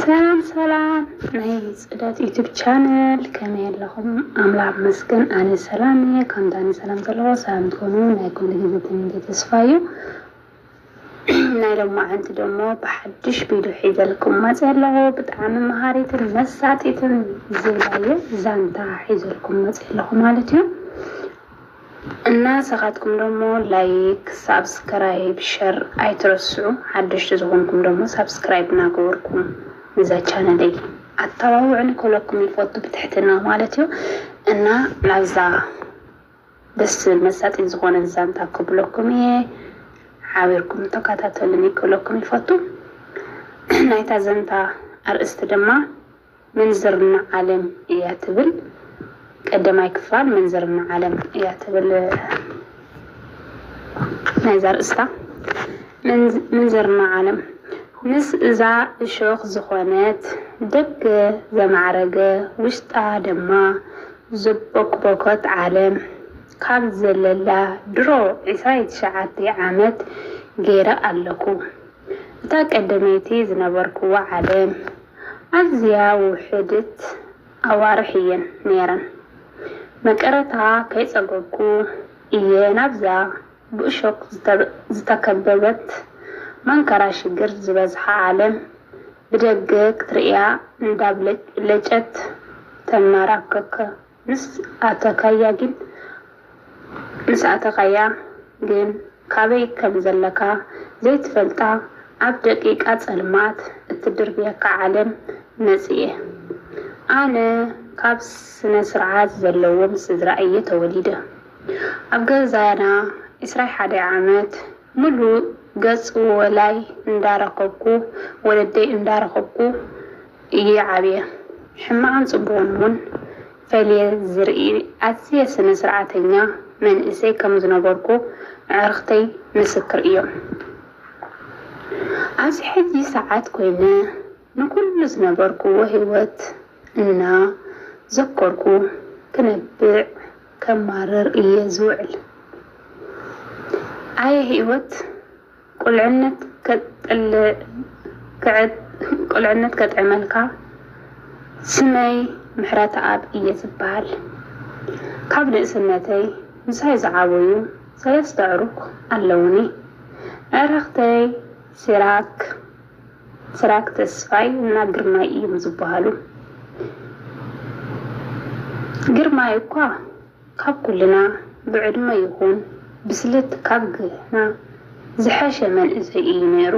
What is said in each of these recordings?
ሰላም ሰላም ናይ ፅዳት ዩቱብ ቻነል ከመይ ኣለኹም? ኣምላኽ መስገን ኣነ ሰላም እየ። ከምታ ኣነ ሰላም ዘለዎ ሰላም ትኾኑ ናይ ኩሉ ግዜ ትምኒተይ ተስፋ እዩ። ናይ ሎማዓንቲ ደሞ ብሓዱሽ ቢዱ ሒዘልኩም መጽየ ኣለኹ ብጣዓሚ ማሃሪትን መሳጢትን ዝብላየ ዛንታ ሒዘልኩም መጽየ ኣለኹ ማለት እዩ እና ንሰኻትኩም ደሞ ላይክ ሳብስክራይብ ሸር ኣይትረስዑ ሓደሽቲ ዝኾንኩም ደሞ ሳብስክራይብ ናገበርኩም ንዛ ቻነለይ ኣታባብዑኒ ክብለኩም ይፎቱ ብትሕትና ማለት እዩ እና ናብዛ ደስ ዝብል መሳጢን ዝኾነን ዛንታ ክብለኩም እየ ሓቢርኩም ተካታተሉኒ ክብለኩም ይፈቱ ናይታ ዘንታ ኣርእስቲ ድማ ምንዝርና ዓለም እያ ትብል ቀደማይ ክፋል ምንዝርና ዓለም እያ ትብል ናይዛ ኣርእስታ ምንዝርና ዓለም ምስ እዛ እሾኽ ዝኾነት ደገ ዘማዕረገ ውሽጣ ድማ ዘቦክቦኮት ዓለም ካብ ዘለላ ድሮ ዕስራይ ትሽዓተይ ዓመት ገይረ ኣለኩ እታ ቀደመይቲ ዝነበርኩዋ ዓለም ኣዝያ ውሕድት ኣዋርሕ እየን ነይረን መቀረታ ከይጸገብኩ እየ ናብዛ ብእሾክ ዝተከበበት መንከራ ሽግር ዝበዝሓ ዓለም ብደገ ክትርእያ እንዳብለጭለጨት ተማራክክ ምስ ኣተካያ ግን ምስ ኣተካያ ግን ካበይ ከም ዘለካ ዘይትፈልጣ ኣብ ደቂቃ ጸልማት እትድርብየካ ዓለም መጽየ ኣነ ካብ ስነስርዓት ዘለዎም ስድራ እየ ተወሊደ ኣብ ገዛና ዕስራይ ሓደ ዓመት ሙሉእ ገጽ ወላይ እንዳረከብኩ ወለደይ እንዳረከብኩ እየ ዓብየ። ሕማቅን ጽቡቅን ውን ፈልየ ዝርኢ ኣዝየ ስነ ስርዓተኛ መንእሰይ ከም ዝነበርኩ ኣዕርክተይ ምስክር እዮም። ኣብዚ ሕጂ ሰዓት ኮይነ ንኩሉ ዝነበርክዎ ሂወት እና ዘከርኩ ክነብዕ። ከማርር እየ ዝውዕል ኣየ ሂወት ቁልዕነት ቁልዕነት ከጥዕመልካ ስመይ ምሕረተኣብ እየ ዝብሃል ካብ ንእስነተይ ምሳይ ዝዓበዩ ሰለስተ ኣዕሩኽ ኣለዉኒ ኣዕርኽተይ ሲራክ ስራክ ተስፋይ እና ግርማይ እዮም ዝባሃሉ ግርማይ እኳ ካብ ኩልና ብዕድመ ይኩን ብስለት ካብ ግና ዝሐሸ መንእሰይ እዩ ነይሩ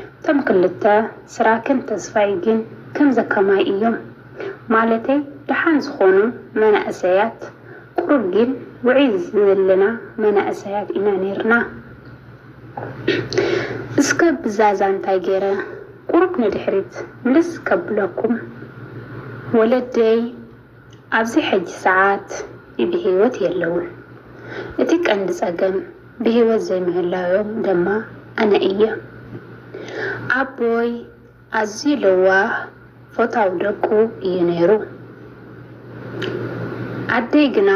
እቶም ክልተ ስራክን ተስፋይ ግን ከምዚ ከማይ እዮም ማለተይ ዳሓን ዝኮኑ መናእሰያት ቁሩብ ግን ውዕይ ዝለና መናእሰያት ኢና ነይርና እስከ ብዛዛ እንታይ ገይረ ቁሩብ ንድሕሪት ምልስ ከብለኩም ወለደይ ኣብዚ ሕጂ ሰዓት ብሂወት የለውን እቲ ቀንዲ ጸገም ብሂወት ዘይምህላዎም ደማ ኣነ እየ ኣቦይ ኣዝዩ ለዋህ ፎታው ደቁ እዩ ነይሩ ኣደይ ግና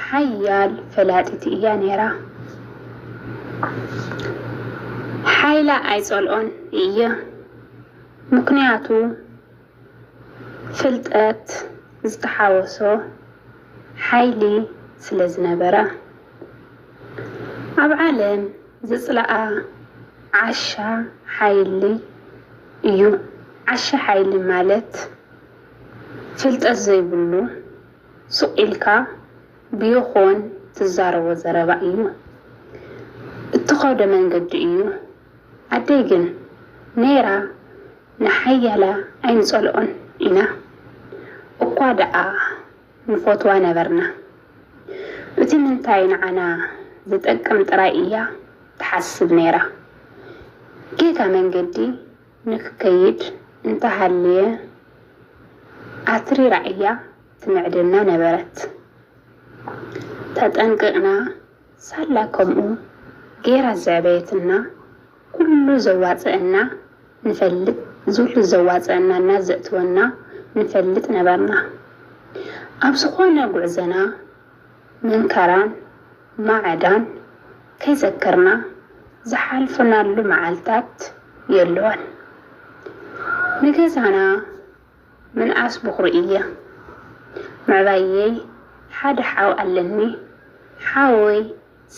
ሓያል ፈላጢት እያ ነይራ። ሓይላ ኣይጸልኦን እየ ምኽንያቱ ፍልጠት ዝተሓወሶ ሓይሊ ስለ ዝነበራ። ኣብ ዓለም ዝጽላኣ ዓሻ ሓይሊ እዩ። ዓሻ ሓይሊ ማለት ፍልጠት ዘይብሉ፣ ሱቕ ኢልካ ብይኾን ትዛረቦ ዘረባ እዩ እትኸዶ መንገዲ እዩ ኣደይ ግን ነይራ ንሓያላ ኣይንፀልኦን ኢና እኳ ደኣ ንፎትዋ ነበርና እቲ ምንታይ ንዓና ዝጠቅም ጥራይ እያ ትሓስብ ነይራ ጌጋ መንገዲ ንክከይድ እንተሃልየ ኣትሪራ እያ ትምዕደና ነበረት። ተጠንቂቕና ሳላ ከምኡ ገይራ ዘዕበየትና ኩሉ ዘዋጽኣና ንፈልጥ ዝሉ ዘዋጽኣና እና ዘእትወና ንፈልጥ ነበርና። ኣብ ዝኾነ ጉዕዘና መንከራን ማዕዳን ከይዘከርና ዝሓልፍናሉ መዓልታት የሎን። ንገዛና ምንኣስ ብኹሪ እየ። ምዕባየይ ሓደ ሓው ኣለኒ። ሓወይ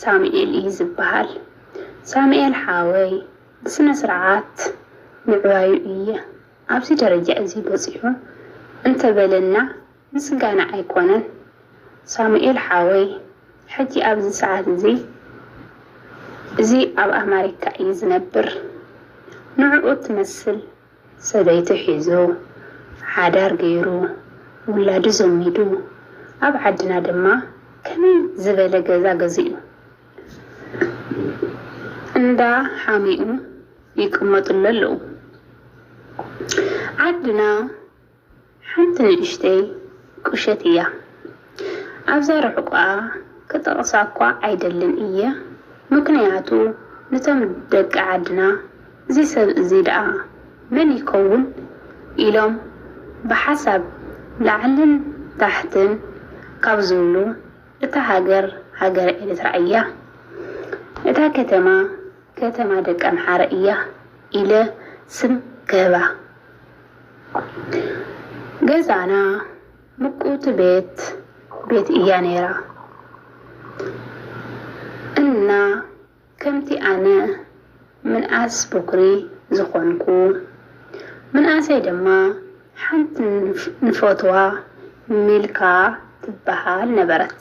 ሳሙኤል እዩ ዝበሃል። ሳሙኤል ሓወይ ብስነ ስርዓት ምዕባዩ እየ ኣብዚ ደረጃ እዚ በጺሑ እንተበለና፣ ምስጋና ኣይኮነን ሳሙኤል ሓወይ ሕጂ ኣብዚ ሰዓት እዚ እዚ ኣብ ኣማሪካ እዩ ዝነብር ንዕኡ እትመስል ሰበይቱ ሒዙ ሓዳር ገይሩ ውላዱ ዘሚዱ ኣብ ዓድና ድማ ከመይ ዝበለ ገዛ ገዚኡ እንዳ ሓሚኡ ይቅመጥሉ ኣለዉ ዓድና ሓንቲ ንእሽተይ ቁሸት እያ ኣብዛ ርሕቋኣ ክጠቅሳ እኳ ኣይደልን እየ ምክንያቱ ንቶም ደቂ ዓድና እዚ ሰብ እዚ ደኣ መን ይከውን ኢሎም ብሓሳብ ላዕልን ታሕትን ካብ ዝብሉ እታ ሃገር ሃገረ ኤርትራ እያ እታ ከተማ ከተማ ደቂ ኣምሓረ እያ ኢለ ስም ክህባ ገዛና ምቁውቲ ቤት ቤት እያ ነይራ እና ከምቲ ኣነ ምንኣስ ቦክሪ ዝኾንኩ ምንኣሰይ ድማ ሓንቲ ንፈትዋ ሚልካ ትበሃል ነበረት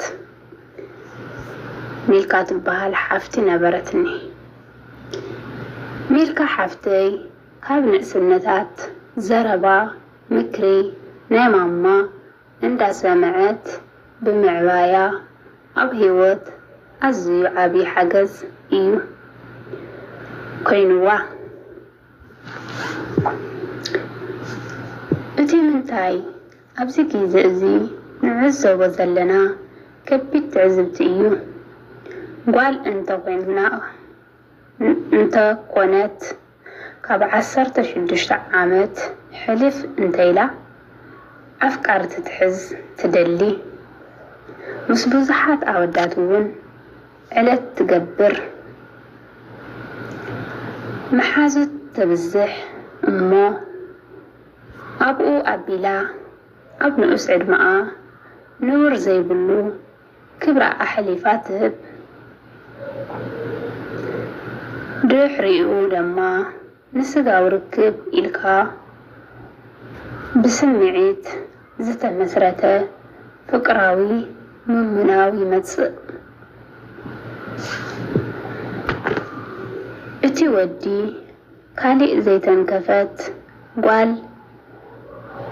ሚልካ ትበሃል ሓፍቲ ነበረትኒ ሚልካ ሓፍተይ ካብ ንእስነታት ዘረባ ምክሪ ናይ ማማ እንዳሰመዐት ብምዕባያ ኣብ ሂወት ኣዝዩ ዓብይ ሓገዝ እዩ ኮይንዋ። እቲ ምንታይ ኣብዚ ግዘ እዚ ንዕዘቦ ዘለና ከቢድ ትዕዝብቲ እዩ። ጓል እንተኮይና እንተኮነት፣ ካብ ዓሰርተ ሽዱሽተ ዓመት ሕልፍ እንተኢላ ኣፍቃሪ ትትሕዝ ትደሊ። ምስ ብዙሓት ኣወዳት እውን ዕለት ትገብር። መሓዙት ተብዝሕ እሞ ኣብኡ ኣቢላ ኣብ ንኡስ ዕድመኣ ንቡር ዘይብሉ፣ ክብራ ኣሕሊፋ ትህብ። ድሕሪኡ ደማ ንስጋዊ ርክብ ኢልካ ብስምዒት ዝተመስረተ ፍቅራዊ ምምናው ይመጽእ። እቲ ወዲ ካሊእ ዘይተንከፈት ጓል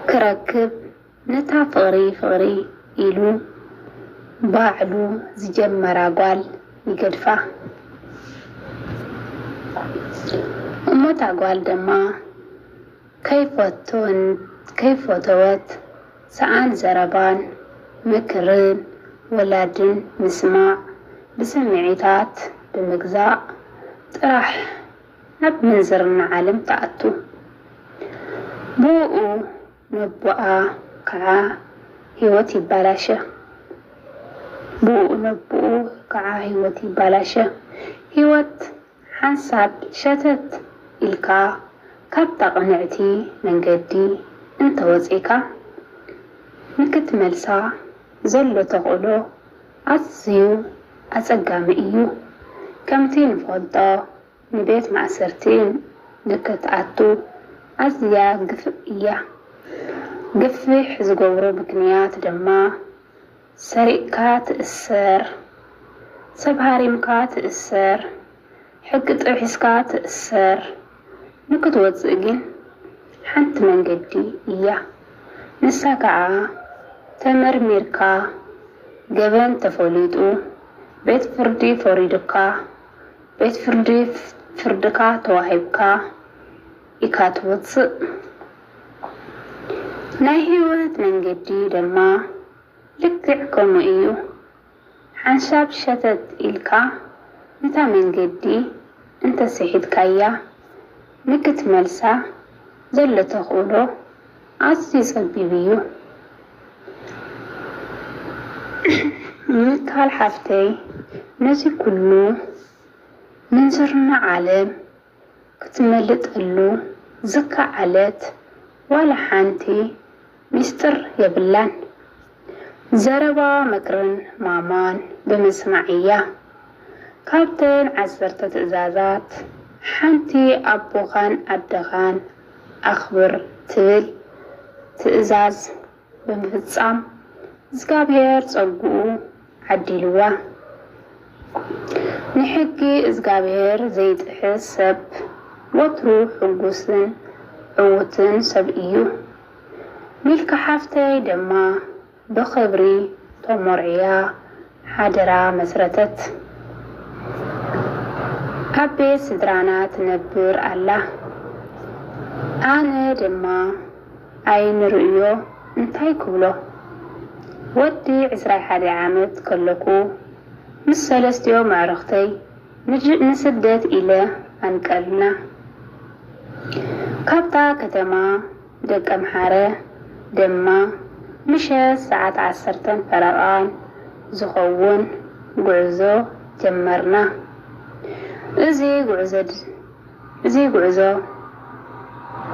ክረክብ፣ ነታ ፍቕሪ ፍቕሪ ኢሉ ባዕሉ ዝጀመራ ጓል ይገድፋ። እሞ እታ ጓል ደማ ከይፈቶን ከይፈተወት ሰኣን ዘረባን ምክርን ወላድን ምስማዕ ብስምዒታት ብምግዛእ ጥራሕ ናብ ምንዝርና ዓለም ትኣቱ። ብኡኡ ነቡኣ ከኣ ህይወት ይባላሸ ብኡኡ ነቡኡ ከኣ ህይወት ይባላሸ ህይወት ሓንሳብ ሸተት ኢልካ ካብታ ቅንዕቲ መንገዲ እንተወጺእካ ንክትመልሳ ዘሎ ተኽእሎ ኣዝዩ ኣጸጋሚ እዩ ከምቲ ንፈልጦ ንቤት ማእሰርቲ ንክትኣቱ ኣዝያ ግፍእ እያ። ግፍሕ ዝገብሮ ምክንያት ድማ ሰሪቅካ ትእሰር፣ ሰብ ሃሪምካ ትእሰር፣ ሕጊ ጥሒስካ ትእሰር፣ ንክትወጽእ ግን ሓንቲ መንገዲ እያ። ንሳ ከኣ ተመርሚርካ ገበን ተፈሊጡ ቤት ፍርዲ ፈሪዱካ፣ ቤት ፍርዲ ፍርድካ ተዋሂብካ ኢካ ትወጽእ ናይ ሂወት መንገዲ ደማ ልክዕ ከምኡ እዩ ሓንሻብ ሸተት ኢልካ ነታ መንገዲ እንተ ሲሒትካያ ንክትመልሳ ዘሎ ተክእሎ ኣዝዩ ጸቢብ እዩ ምካል ሓፍተይ ነዚ ኩሉ ምንዝርና ዓለም ክትመልጠሉ ዝካዓለት ዋላ ሓንቲ ሚስጥር የብላን ዘረባ ምክርን ማማን ብምስማዕ እያ ካብተን ዓሰርተ ትእዛዛት ሓንቲ ኣቦካን ኣደካን ኣኽብር ትብል ትእዛዝ ብምፍጻም እዝጋብሄር ጸግኡ ዓዲልዋ። ንሕጊ እዝጋብሄር ዘይጥሕስ ሰብ ወትሩ ሕጉስን ዕዉትን ሰብ እዩ። ሚልካ ሓፍተይ ደማ ብኽብሪ ተሞርዕያ ሓድራ መስረተት። ኣብ ቤት ስድራና ትነብር ኣላ። ኣነ ድማ ዓይኒ ርእዮ እንታይ ክብሎ። ወዲ ዕስራይ ሓደ ዓመት ከለኩ ምስ ሰለስቲኦም ኣዕርኽተይ ንስደት ኢለ ኣንቀልና። ካብታ ከተማ። ደቀምሓረ ድማ ምሸት ሰዓት ዓሰርተን ፈረቓን ዝኸውን ጉዕዞ ጀመርና። እዚ ጉዕዞእዚ ጉዕዞ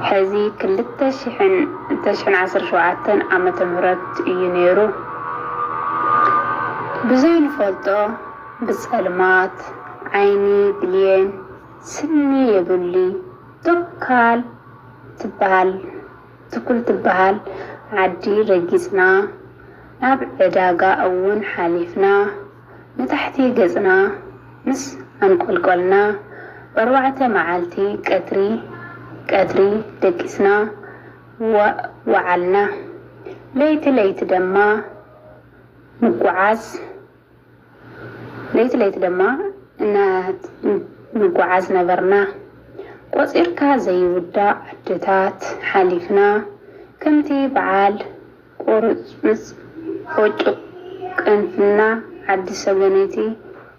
ሕዚ ክልተ ሽሕን ዓሰርተ ሸውዓተን ዓመተ ምህረት እዩ ነይሩ። ብዘይንፈልጦ ብጸልማት ዓይኒ ብሌን ስኒ የብሊ ቶካል፣ ትበሃል ትኩል ትበሃል ዓዲ ረጊጽና ናብ ዕዳጋ እውን ሓሊፍና ንታሕቲ ገጽና ምስ ኣንቆልቆልና ብኣርባዕተ መዓልቲ ቀትሪ ቀትሪ ደቂስና ወዓልና ለይቲ ለይቲ ደማ ንጎዓዝ ለይቲ ለይቲ ድማ እንጓዓዝ ነበርና። ቆጺርካ ዘይውዳእ ዓድታት ሓሊፍና፣ ከምቲ በዓል ቁርጽምጽ ፎጩቅ ቅንፍና፣ ዓዲ ሰገነይቲ፣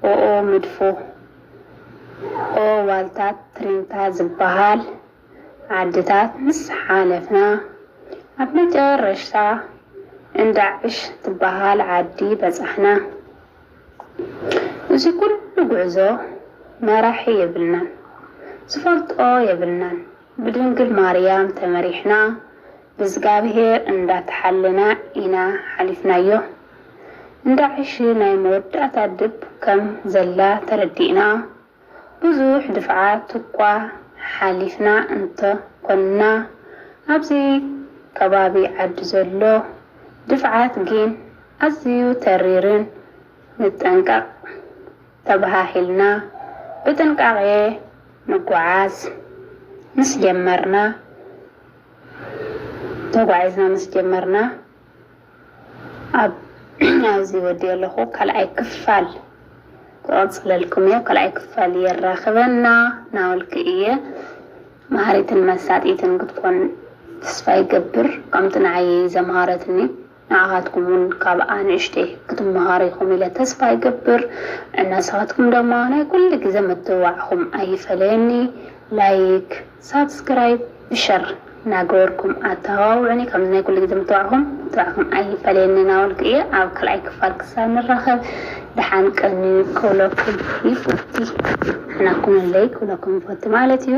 ኦኦ መድፎ፣ ኦኦ ዋልታ ትሪንታ ዝበሃል፣ ዓድታት ምስ ሓለፍና ኣብ መጨረሽታ እንዳዕሽ ትበሃል ዓዲ በጻሕና። እዚ ኩሉ ጉዕዞ መራሒ የብልናን ዝፈልጦ የብልናን ብድንግል ማርያም ተመሪሕና ብእዝጋብሄር እንዳተሓለና ኢና ሓሊፍናዮ። እንዳዕሽ ናይ መወዳእታ ድብ ከም ዘላ ተረዲእና። ብዙሕ ድፍዓት'ኳ ሓሊፍና እንተ ኰንና፣ ኣብዚ ከባቢ ዓዲ ዘሎ ድፍዓት ግን ኣዝዩ ተሪርን ንጠንቀቕ ተበሃሂልና ብጥንቃቄ ንጓዓዝ ምስ ጀመርና ተጓዒዝና ምስ ጀመርና፣ ኣብዚ ወዲኤ ኣለኩ ካልኣይ ክፋል ክቅፅለልኩም እየ ካልኣይ ክፋል የራክበና ናበልኩ እየ መሃሪትን መሳጢትን ክትኮን ተስፋ ይገብር ከምቲ ንዓይ ዘምሃረትኒ ንዓካትኩም እውን ካብኣ ንእሽተይ ክትመሃሩ ኢኩም ኢለ ተስፋ ይገብር እና ንስካትኩም ድማ ናይ ኩሉ ግዘ ምትብባዕኩም ኣይፈለየኒ ላይክ ሳብስክራይብ ብሸር ናገበርኩም ኣተባብዑኒ ከምዚ ናይ ኩሉ ግዜ ምትባዕኩም ምትባዕኩም ኣይፈለየኒ ናበልኩ እየ ኣብ ካልኣይ ክፋል ክሳብ ንራኸብ ደሓን ቀንዩ ክብለኩም ይፈቲ ንሕና ኩነለይ ክብለኩም ይፈቲ ማለት እዩ።